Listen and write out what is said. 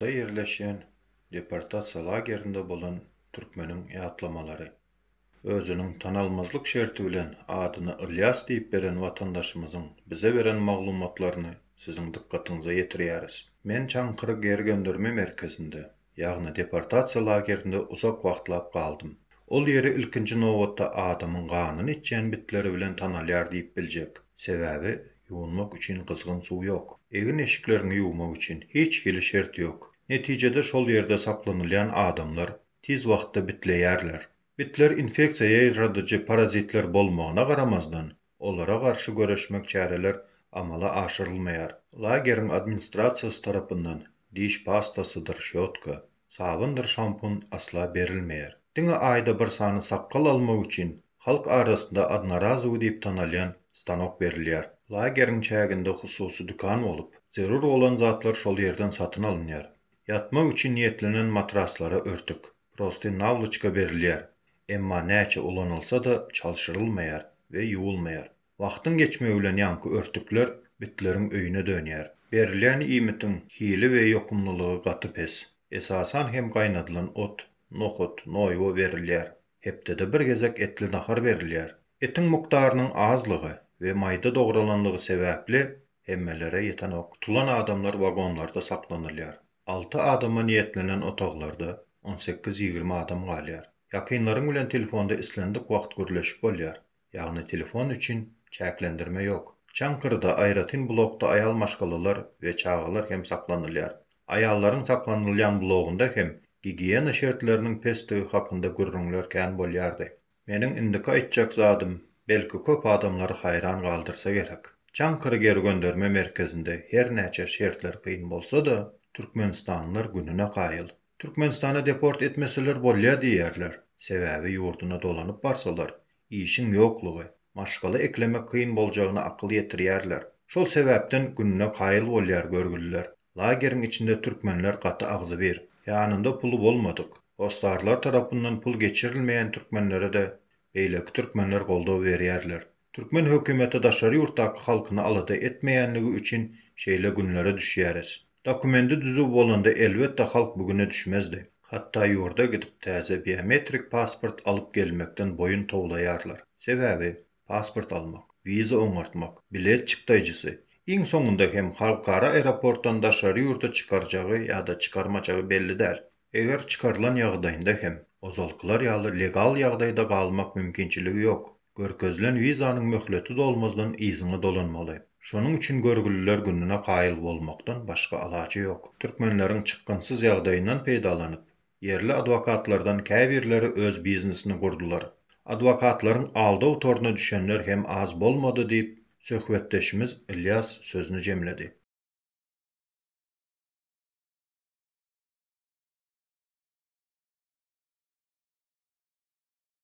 Da ýerleşýän deportasiýa lagerinde bolan türkmeniň ýatlamalary. Özüniň tanalmazlyk şerti bilen adyny Ylýas diýip beren watandaşymyzyň bize beren maglumatlaryny siziň dykgatyňyza ýetirýäris. Men Çaňkyr gergendirme merkezinde Ýagny deportasiýa lagerinde uzak wagtlap galdym. Ol ýeri ilkinji nobatda adamyň ganyny içýän bitleri bilen tanalýar diýip biljek. Sebäbi, ýuwunmak üçin gyzgyn suw ýok. Egin-eşikleriňi ýuwmak üçin hiç hili şert ýok. Netijede şol ýerde saklanylýan adamlar tiz wagtda bitleýärler. Bitler infeksiýa ýaýradyjy parazitler bolmagyna garamazdan, olara garşy göreşmek çäreler amala aşyrylmaýar. Lageriň administrasiýasy tarapyndan diş pastasydyr şýotka, sabyndyr şampun asla berilmeýär. Diňe aýda bir sany sakgal almak üçin halk arasynda odnorazowy diýip tanalýan stanok berilýär. Lageriň çäginde hususy dükan bolup, zerur bolan zatlar şol ýerden satyn alynýar. Ýatmak üçin niýetlenen matraslara örtük, prosty nawlyçka berilýär, emma näçe ulanylsa-da çalşyrylmaýar we ýuwulmaýar. Wagtyň geçmegi bilen ýaňky örtükler bitleriň öýüne dönýär. Berilýän iýmitiň hili we ýokumlylygy gaty pes. Esasan hem gaýnadylan ot, nohut, noýba berilýär. Hepdede bir gezek etli nahar berilýär. Etiň mukdarynyň azlygy we maýda dogralanlygy sebäpli hemmelere ýetenok. Tutulan adamlar wagonlarda saklanylýar. Alty adama niýetlenen otaglarda on sekiz-ýigrimi adam galýar. Ýakynlaryň bilen telefonda islendik wagt gürleşip bolýar, ýagny telefon üçin çäklendirme ýok. Çaňkyrda aýratyn blokda aýal maşgalalar we çagalar hem saklanylýar. Aýallaryň saklanylýan blogynda hem gigiýena şertleriniň pesdigi hakynda gürrüňler kän bolýardy. Meniň indiki aýtjak zadym, belki köp adamlary haýran galdyrsa gerek. Çaňkyr gergönderme merkezinde hernäçe şertler kyn bolsa-da, türkmenistanlylar gününe kaýyl. Türkmenistana deport etmeseler bolýa diýýärler, sebäbi ýurduna dolanyp barsalar, işiň ýoklugy, maşgala eklemek kyn boljagyna akyl ýetirýärler. Şol sebäpden gününe kaýyl bolýar görgüliler. Lageriň içinde türkmenler gaty agzybir. Ýanynda puly bolmadyk, hossarlar tarapyndan pul geçirilmeýän türkmenlere-de beýleki türkmenler goldaw berýärler. Türkmen hökümeti daşary ýurtdaky halkyny alada etmeýänligi üçin şeýle günlere düşýäris. Dokumendi düzüw bolanda elbetde halk bu güne düşmezdi. Hatda ýurda gidip täze biometrik pasport alyp gelmekden boýun towlaýarlar. Sebäbi, pasport almak, wiza oňartmak, bilet çykdaýjysy, iň soňunda hem halkara aeroportdan daşary ýurda çykarjagy ýa-da çykarmajagy belli däl. Eger çykarylan ýagdaýynda hem, ozalkylar ýaly legal ýagdaýda galmak mümkinçiligi ýok. Görkezilen wizanyň möhleti dolmazdan yzyňa dolanmaly. Şonuň üçin görgüliler gününe kaýyl bolmakdan başga alaç ýok. Türkmenleriň çykgynsyz ýagdaýyndan peýdalanyp, Ýerli adwokatlardan käbirleri öz biznesini gurdular. Adwokatlaryň aldaw toruna düşenler hem az bolmady diýip, söhbetdeşimiz Ylýas sözüni jemledi.